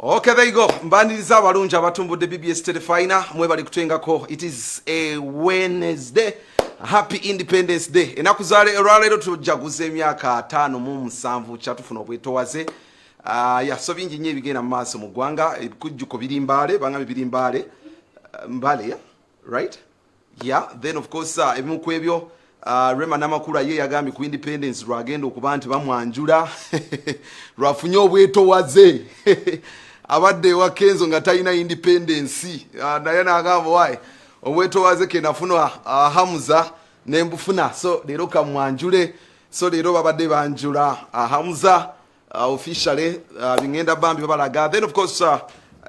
Okay, there you go. Mbaniriza abalungi abatumbudde BBS Telefina mwebali kutwengako. It is a Wednesday. Happy Independence Day. Enaku za leero tujaguza emyaka 5 mu 7 kyatufuna obwetowaze. Ah, uh, ya so bingi nnyo ebigenda mu maaso mu ggwanga ebikujjuko biri mbaale banga biri mbaale ah, mbaale ya right yeah then of course uh, ebimu kwebyo uh, rema namakula ye yagambye ku independence lwagenda okuba nti bamwanjula lwafunye obwetowaze abadde ewa kenzo nga talina independence uh, naye nagamba waye obwetowaze kenafuna uh, hamuza nembufuna so leero kamwanjule so leero babadde banjula uh, hamuza uh, officially uh, bingenda bambi babalaga then of course uh,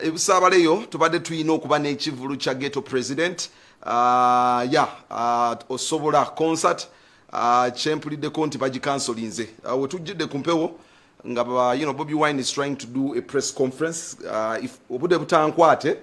ebusaabaleyo tubadde tulina okuba n'ekivulu kya ghetto president uh, ya uh, osobola concert uh, kyempuliddeko nti bagikansolinze uh, wetujjidde ku mpewo nga you know, bobi wine is trying to do a press conference uh, if obudde butankwate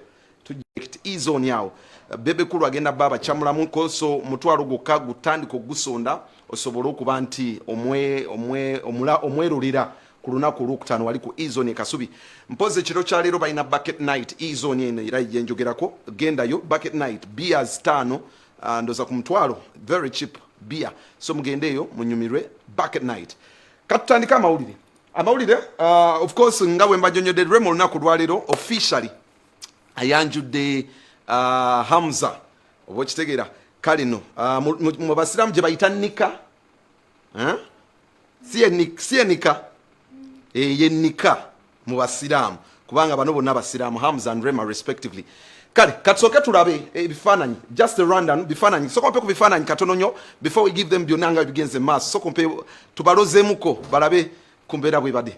izoni awo bebe kulu agenda baba chamulamu koso mutwalo gukka gutandika ogusonda osobole okuba nti omwe omwe omula omwerulira ku lunaku olwokutaano wali ku ezoni ekasubi mpozi ekiro kya leero balina bucket night ezoni eno era yenjogerako gendayo bucket night beers taano uh, ndoza ku mutwalo very cheap beer so mugendeeyo munyumirwe bucket night katutandika amawulire amawulire uh, of course nga bwe mbajonyodde rema olunaku lwaleero officially ayanjudde uh, hamza oba okitegeera kale no uh, mu basiraamu gye bayita nika eh? si enika eh, ye nika mu basiraamu kubanga bano bonna basiraamu hams and rema respectively kale katusooke tulabe ebifaananyi eh, just the rundown bifaananyi soka mpe ku bifaananyi katono nyo before we give them byonna nga bigenze maaso soka mpe tubalozeemuko balabe ku mbeera bwebade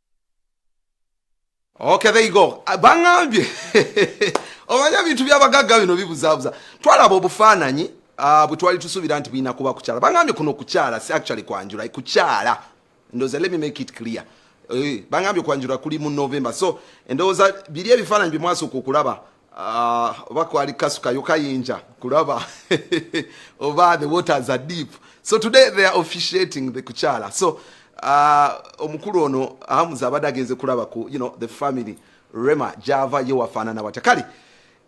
Okay, there you go. Ah, bangambye omanyi ebintu byabagagga bino bibuzaabuza twalaba obufaananyi ah, bwe twali tusuubira nti bulina kuba kukyala bangambye kuno kukyala si actually kwanjula kukyala ndoza let me make it clear eh, bangambye kwanjula kuli mu november so endowooza biri ebifaananyi bye mwasooka okulaba Ah, oba kwali kasukayo kayinja kulaba oba the waters are deep so today they are officiating the kuchala so uh, omukulu ono ahamuza abadde agenze kulaba ku you know the family rema java ye wafaanana watya kale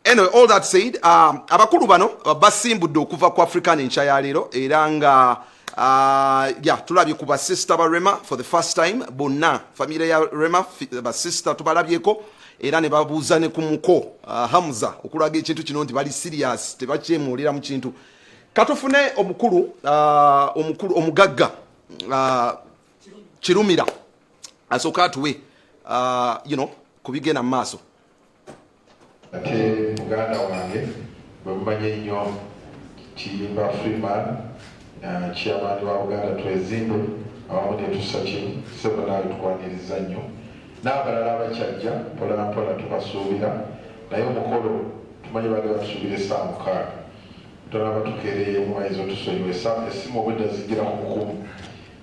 anyway all that said um, abakulu bano basimbudde okuva ku african enkya ya leero era nga uh, yeah, tulabye ku basista ba rema for the first time bonna famire ya rema basista tubalabyeko era ne babuuza ne ku muko uh, Hamza okulaga ekintu kino nti bali serious tebakyemuulira mu kintu katufune omukulu uh, omukulu omugagga uh, kirumira asooka atuwe uh, you know, ku bigenda mu maaso ate muganda wange bwe mumanye nnyo kiyimba freeman chairman wa Buganda Twezimbe awamu netusa kimu sebo naawe tukwaniriza nnyo n'abalala abakyajja mpolampola tubasuubira naye omukolo tumanyi baali batusuubira essaa mukaaga tonaba tukeereyemu ayinza otusonyiwa essimu obwedda zijjira ku mukumu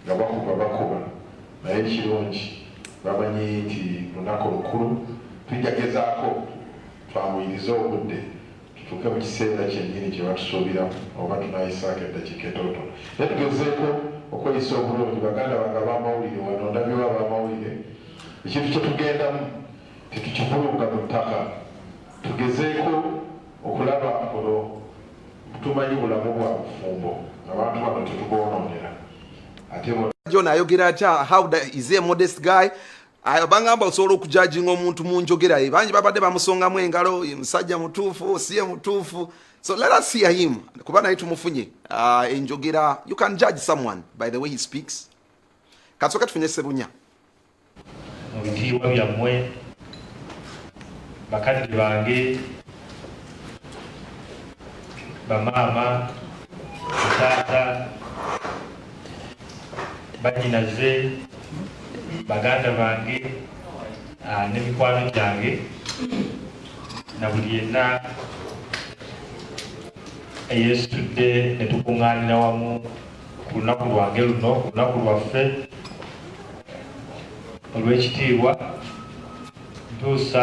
nga bakuba bakuba naye ekirungi bamanyi nti lunaku lukulu tujja gezaako twamuyirize obudde kituuke mu kiseera kyennyini kye batusuubiramu oba tunayisaako eddakiika etootono naye tugezeeko okweyisa obulungi baganda bange abamawulire wano ndabyewo abamawulire ekintu kye tugendamu tetukivulunga mu ttaka tugezeeko okulaba kuno tumanyi bulamu bwa bufumbo abantu bano tetuboonoonera ate jona ayogera atya how is a modest guy ayo bangamba osobola okujajinga omuntu mu njogera ye bangi babadde bamusongamu engalo ye musajja mutuufu si ye mutuufu so let us hear him kuba naye tumufunye uh, enjogera you can judge someone by the way he speaks kasoka tufunye sebunya mu bitiibwa byammwe bakadde bange bamaama taata bajinaze baganda bange ah, ne mikwano gyange na buli yenna eyesitudde ne tukuŋŋaanira wamu ku lunaku lwange luno ku lunaku lwaffe olw'ekitiibwa ntuusa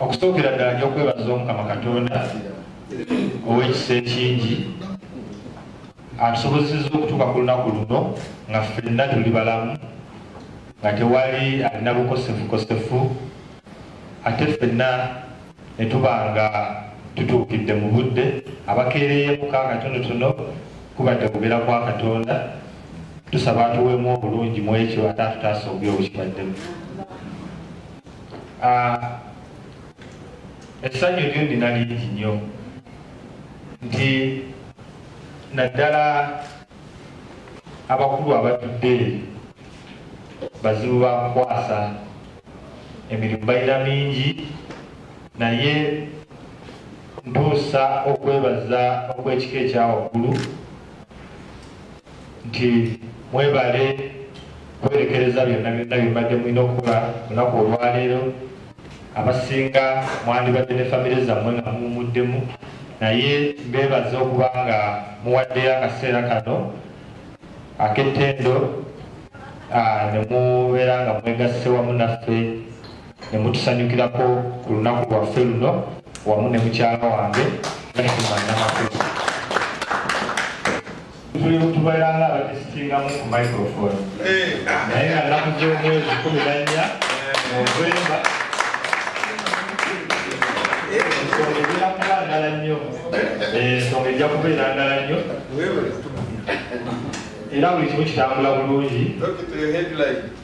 okusookera ddala nja okwebaza omukama katonda ow'ekisa ekingi atusobozeseza okutuuka ku lunaku luno nga ffenna tuli balamu nga tewali alina bukosefukosefu ate ffenna ne tuba nga tutuukidde mu budde, abakeereeye mu ka akatonotono kubadde kugera kwa Katonda, tusaba atuweemu obulungi mu ekyo ate atutaase obubi obukibaddemu. Ah, essanyu lyo nina lingi nnyo nti naddala abakulu abatudde eri bazibu ba kukwasa emirimu balina mingi naye ntuusa okwebaza okwekika ekyawaggulu nti mwebale kwerekereza byonna byonna byembadde mulina okukola olunaku olwaleero Abasinga mwandibadde ne famire zammwe nga muwumuddemu naye mbeebaza okuba nga muwaddeyo akaseera kano ak'ettendo ne mubeera nga mwegasse wamu naffe ne mutusanyukirako ku lunaku lwaffe luno wamu ne mukyala wange Nakimannamakulu. tuli tubeeranga abadisitingamu ku microfone naye nga nnaku z'omwezi kumi na nnya novemba ensonga ejja kuba ndala nnyo ensonga ejja kubeera ndala nnyo era buli kimu kitambula bulungi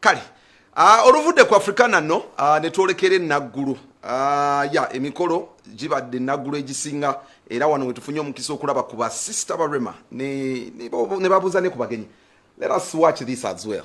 kale ah, oluvudde ku afrikana no ah, netwolekera enaggulu ah, ya emikolo gibadde enaggulu egisinga era wano wetufunye omukisa okulaba ku basister barema ne babuuza ne ku bagenyi let us watch this as well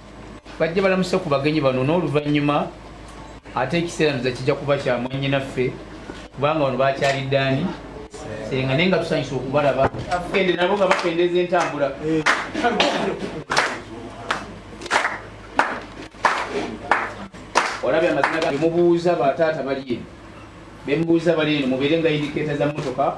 bajja balamuse ku bagenyi bano n'oluvannyuma ate ekiseera ndoza kijja kuba kya mwannyinaffe kubanga bano bakyalidde ani senga naye nga tusanyusa okubalaba ende nabo nga bakendeeza entambula olabye amazina ga mubuuza bataata bali eno bemubuuza bali eno mubeere nga indikeeta za mmotoka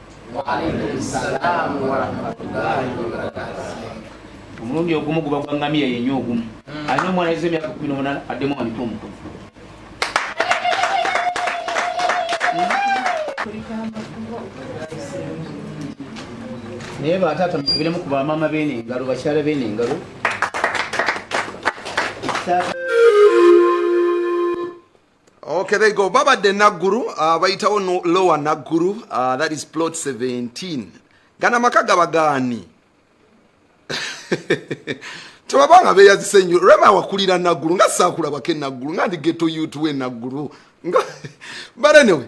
omulundi ogumu guba gwa ngamiya yenye ogumu hmm. alina omwana yeza emyaka kumi nomunana addemu nga mito omuto naye bataata mukubiremu ku bamaama beene engalo bakyala beene engalo Okay, there you go. Baba de Naguru, uh, bayitawo no lower Naguru, uh, that is plot 17. Gana maka gabagani. Tubabanga be yazise nyo. Rema wakulira Naguru, nga sakula bake Naguru, nga ndi ghetto youth we Naguru. Nga, but anyway,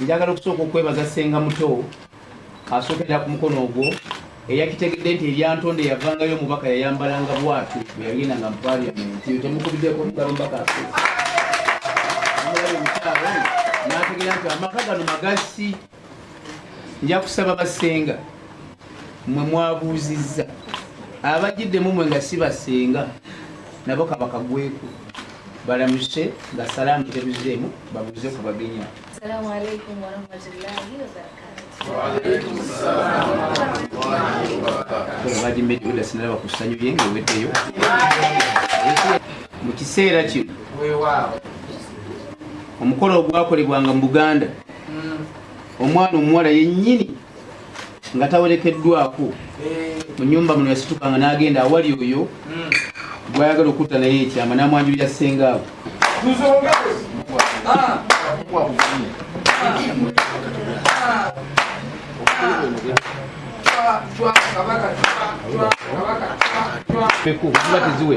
Njagala okusooka okwebaza Ssenga Muto asookerera ku mukono ogwo eyakitegedde nti eryantonde yavangayo omubaka yayambalanga bwati bwe yagenda nga mu paliamenti yo temukubiddeko omugalo mubaka n'ategera nti amaka gano magasi nja kusaba basenga mwe mwabuuzizza abagiddemu mwe nga si basenga nabo kabakagweku balamuse nga salaamu tebuzeemu babuuze ku bagenya bagimeedasinalaba ku ssanyu lye nga eweddeyo mu kiseera kino omukolo ogwakolebwanga mu buganda hmm. omwana omuwala yennyini nga tawerekeddwako mu nyumba muno yasitukanga n'agenda awali oyo gwayagala okutta naye ekyama n'amwanjulira ssenga abo peku ziba teziwe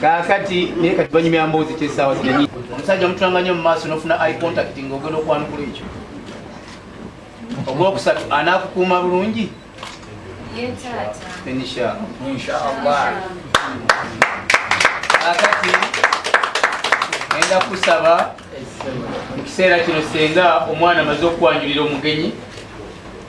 kaakati naye kati banyumya mboozi kyesaawa zinenyi omusajja omutulanga nnyo mu maaso n'ofuna i contact nga ogenda okwanukula ekyo ogwokusatu anaakukuuma bulungi kaakati enda kusaba mu kiseera kino senga omwana amaze okwanjulira omugenyi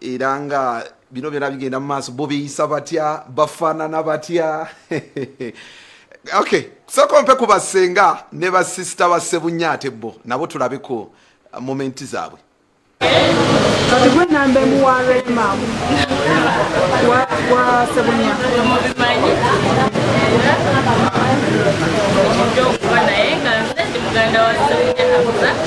era nga bino byona bigenda mu maaso bo beyisa batya bafaanana batya okay sooka mpe ku basenga ne basisita ba sebunya ate bo nabo tulabeko momenti zaabwe kati gwe namba emu wa rema wa sebunya mubimanyi okuba naye nga nze ndi muganda wa sebunya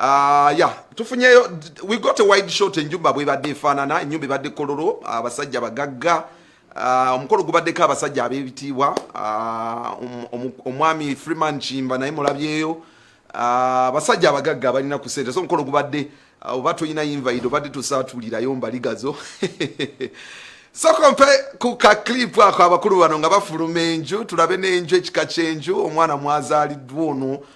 Uh, yeah. tufunyeyo we got a wide shot enjumba bwebadde efaanana enyumba ebadde kololo abasajja bagagga uh, omukolo uh, gubaddeko abasajja abebitiibwa uh, um, um, omwami freeman kimba naye mulabyeyo uh, abasajja uh, abagagga balina ku sente so omukolo gubadde uh, oba tulina invite obadde tusaatulirayo mbaligazo soko mpe ku ka clip ako abakulu bano nga bafuluma enju tulabe n'enju ekika ky'enju omwana mwazaaliddwa ono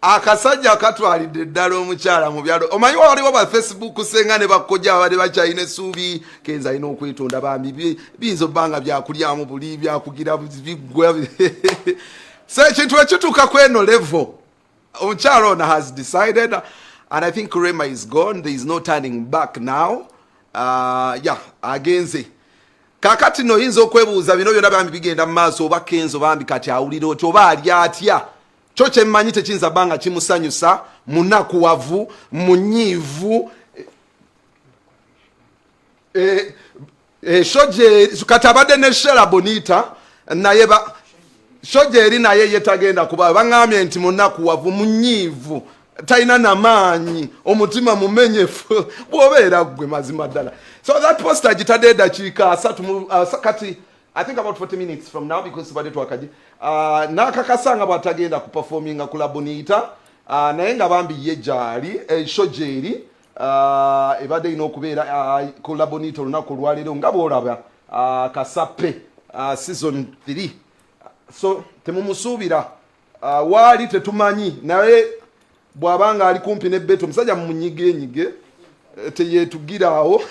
akasajja katwalidde ddala omukyala mu byalo omanyi waliwo ba facebook senga ne bakojja babadde bakyalina esuubi kenza alina okwetonda bambi biyinza obba nga byakulyamu buli byakugira bigwa so ekintu ekituuka ku eno levo omukyala ono has decided and i think rema is gone there is no turning back now uh, ya yeah, agenze kakati no oyinza okwebuuza bino byona bambi bigenda mu maaso oba kenzo bambi kati awulira oti oba ali atya kyo kyemmanyi tekiyinza bba nga kimusanyusa munakuwavu munyiivu eh, eh, shoje kati abadde ne shela bonita naye shoje eri naye ye tagenda kuba baŋambye nti munakuwavu munyiivu talina namaanyi omutima mumenyefu bwobeera gwe mazima ddala so that posta gitadde edakiika asatu kati I think about 40 minutes from now because tubadde twakaje uh, nakakasa nga bwatagenda kuperforminga ku laboniita uh, naye nga bambi ye gyali esho eh, gyeri uh, ebadde erina okubeera uh, ku laboniita olunaku olwaleero nga bwolaba uh, kasape uh, season 3 so temumusuubira Ah, waali tetumanyi naye bwaba nga ali kumpi ne beto omusajja munyigenyige eh, teyetugiraawo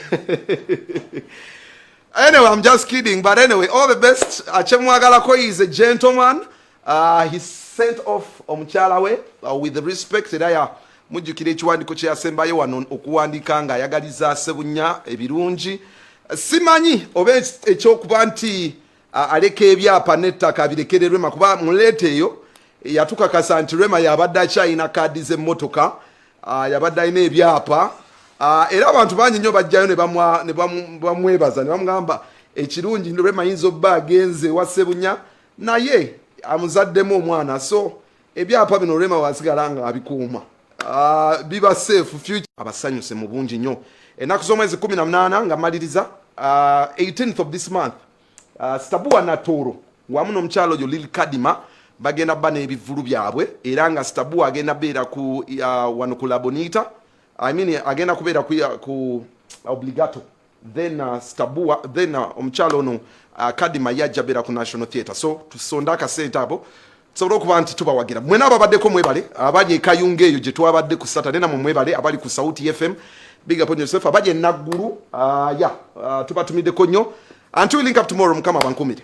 anyway i'm just kidding but anyway all the best akyemwagalako is a gentleman uh, he sent off omukyala we uh, with respect era ya mujjukira ekiwandiiko kyeyasembayo wano okuwandiika nga ayagaliza sebunya ebirungi simanyi oba ekyokuba nti aleka ebyapa n'ettaka birekere rema kuba muleeta eyo yatukakasa nti rema yabadde akyalina kaadi z'emmotoka yabadde alina ebyapa era abantu bangi nnyo bajjayo ne bamwebaza ne bamugamba ekirungi rema yinza obba agenze ewa sebunya naye amuzaddemu omwana so ebyapa bino rema wasigala nga abikuuma ah, biba safe future abasanyuse mu bungi nnyo ennaku z'omwezi 18 nga maliriza 18th ah, of this month ah, stabua natooro wamu n'omukyalo oyo lil kadima bagenda ba n'ebivulu byabwe era nga stabua agenda beera ku wano ku labonita I mean, agenda kubeera ku, ku obligato then uh, stabua then uh, omukyalo ono uh, kadima yajja beera ku national theatre so tusonde akasente abo tusobole okuba nti tubawagira mwena ababaddeko mwebale abali ekayunga eyo gyetwabadde ku saturday namwe mwebale abali ku sauti fm big up on yourself abali enaggulu uh, ya yeah, uh, tubatumiddeko nnyo until we link up tomorrow mukama abankumire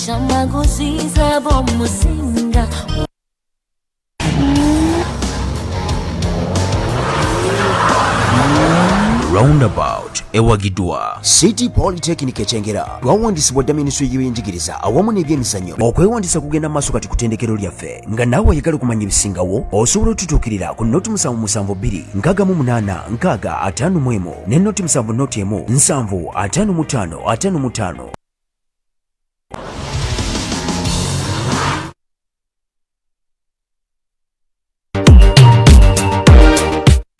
roundabout ewagidwa city polytechnic ekyengera twawandisibwa dda minisitule y'ebyenjigiriza awamu n'ebyemizannyo okwewandisa kugenda maaso kati ku tendekero lyaffe nga naawe oyagala okumanya ebisingawo osobola otutuukirira ku noti musanvu musanvu bbiri nkaaga mu munaana nkaaga ataano mu emu ne noti musanvu noti emu nsanvu ataano mu ttaano ataano mu ttaano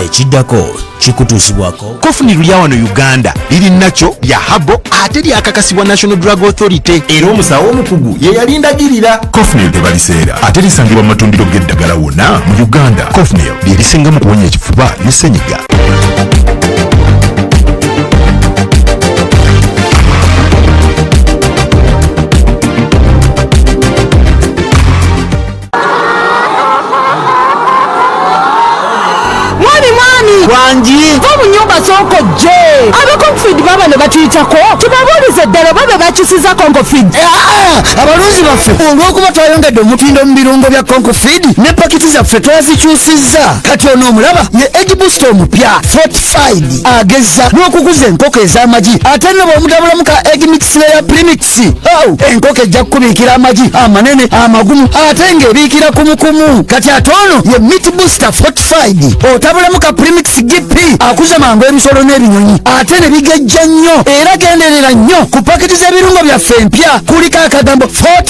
ekiddako kikutuusibwako kofuni lulya wano uganda liri nakyo lya habo ate lyakakasibwa national drug authority era omusawo omukugu ye yalindagirira cofnil tebaliseera ate lisangibwa mu matundiro g'eddagala wonna mu uganda cofnil bye bisinga mu kuwonya ekifuba ne ssenyiga wangi va mu nyumba z'oko je abakonfid baba ne batuyitako tubabuuliza eddala oba be bakyusiza konkofid eh, ah, ah, abalunzi baffe olw'okuba twayongedde omutindo mu birungo bya konkofid ne pakiti za ffe twazikyusizza kati ono omulaba ye edibusita omupya fortified agezza n'okukuza enkoko ez'amagi ate nno bw'omudabulamu ka eg mixleya premix ow enkoko ejja kukubiikira amagi amanene amagumu ate ng'ebiikira kumukumu kati ate ono ye mit booster fortified otabulamu ka premix gp akuza mangu ebisolo n'ebinyonyi ate ne bigejja nnyo era genderera nnyo ku paketi z'ebirungo byaffe empya kuliko akagambo fort